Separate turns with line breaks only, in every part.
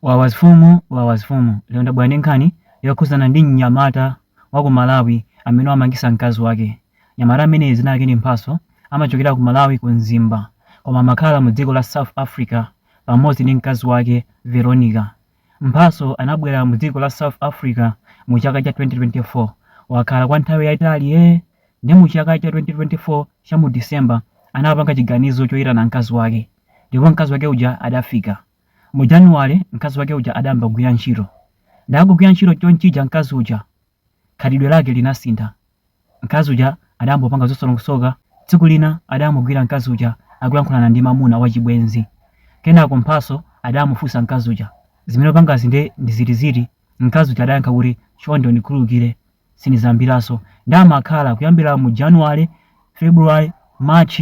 Wawa zifumu wawa zifumu lero ndabwera ndi nkhani yokhuzana ndi mnyamata wa ku Malawi amene wamangisa mkazi wake. Mnyamata ameneyi dzina lake ndi Mphatso amachokera ku Malawi ku Mzimba koma amakhala mu dziko la South Africa pamodzi ndi mkazi wake Veronica. Mphatso anabwera mu dziko la South Africa mu chaka cha 2024. Wakhala kwa nthawi yayitali ee nde mu chaka cha 2024 cha mu December anapanga chiganizo choyitana mkazi wake ndipo mkazi wake uja adafika. Mu January mkazi wake uja adayamba kugwira ntchito. Nde akugwira ntchito chonchija mkazi uja khalidwe lake linasintha. Mkazi uja adayamba kupanga zosalongosoka. Tsiku lina adamugwira mkazi uja akulankhulana ndi mamuna wachibwenzi. Kenako Mphatso adamufunsa mkazi uja, zimene upangazi nde ndi ziti ziti? Mkazi uja adayankha kuti, chonde undikhululukire, sindizayambiranso. Nde amakhala kuyambira mu January, February, March.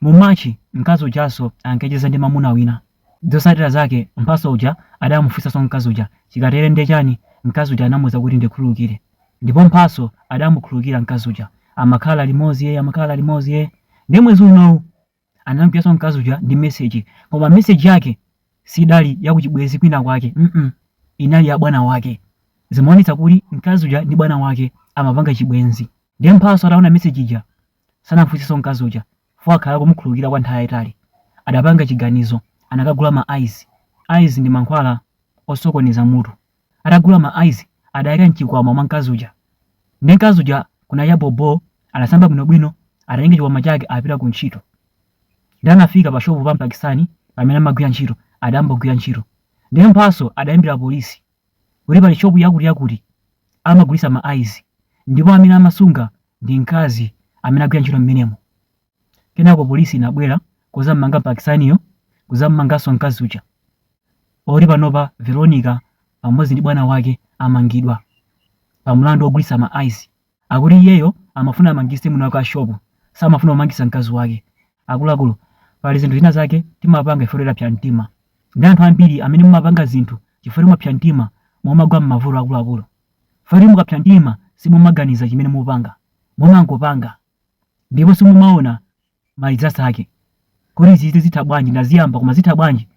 Mu March mkazi ujanso ankacheza ndi mamuna wina. Zotsatira zake Mphatso uja adamufunsanso mkazi uja chikatere ndiye chani mkazi uja anamuuza kuti ndikhululukire ndipo Mphatso adamukhululukira mkazi uja amakhala limodzi yee amakhala limodzi yee ndiye mwezi unowu anamgwiranso mkazi uja ndi message koma message yake sidali ya kuchibwenzi kwina kwake mm -mm. inali ya bwana wake zimaonetsa kuti mkazi uja ndi bwana wake amapanga chibwenzi ndiye Mphatso ataona message ija Sanafunsenso mkazi uja chifukwa wakhala akumukhululukira kwa nthawi yayitali. Adapanga chiganizo, anakagula ma ice. Ice ndi mankhwala osokoneza mutu. Atagula ma ice adayika mchikwama mwa mkazi uja. Nde mkazi uja kunacha bho bho adasamba bwino bwino atatenga chikwama chake apita ku ntchito. Nde anafika pa shop pa Mpakistani pamene amagwira ntchito adayamba kugwira ntchito. Nde Mphatso adayimbira police. kuti pali shopu yakutiyakuti amagulitsa ma ice ndipo amene amasunga ndi mkazi amene agwira ntchito mmenemo. Kenako polisi inabwera kuzammanga Mpakistaniyo kuzammanganso mkazi uja moti panopa Veronica pamodzi ndi bwana wake amangidwa pa mlandu wogulitsa ma ice. Akuti iyeyo amafuna amangise mwini wake wa shop samafuna kumangisa mkazi wake. Akuluakulu pali zinthu zina zake timapanga chifukwa choti tapsa mtima. Ndi anthu ambiri amene mumapanga zinthu chifukwa choti mwapsa mtima mumagwa mmavuto akuluakulu. Chifukwa choti mukapsa mtima simumaganiza chimene mupanga. Mumangopanga ndipo simumaona malizitsidwe ake kuti izizi zitha bwanji ndaziyamba koma zitha bwanji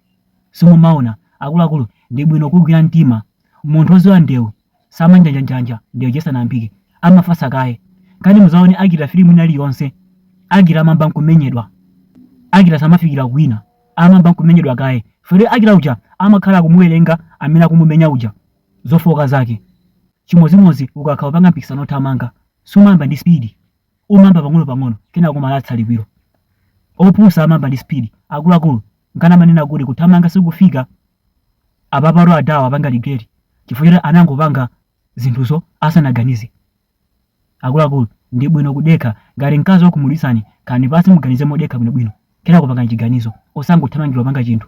simumaona akuluakulu ndi bwino kugwira mtima munthu oziwa ndewu samanjanja ndewu ija isanayambike amafasa kaye kani muzaone actor filimu ina iliyonse actor amamba nkumenyedwa actor samafikira kuwina amamba nkumenyedwa kaye fore actor uja amakhala akumuwerenga amene akumumenya uja zofooka zake chimodzimodzi ukakhala upanga mpikisano othamanga sumayamba ndi spidi Umayamba pang'onopang'ono, kenako umayatsa liwiro. Opusa amayamba ndi speed. Akuluakulu, nkana amanena kuti kuthamanga sikufika. Apapatu a Dawa apanga regret chifukwa choti anangopanga zinthuzo asanaganize. Akuluakulu, ndi bwino kudekha. Ngati mkazi wakhumudwitsani, khalani pansi muganize modekha bwinobwino. Kenako pangani chiganizo, osangothamangirira kupanga chinthu.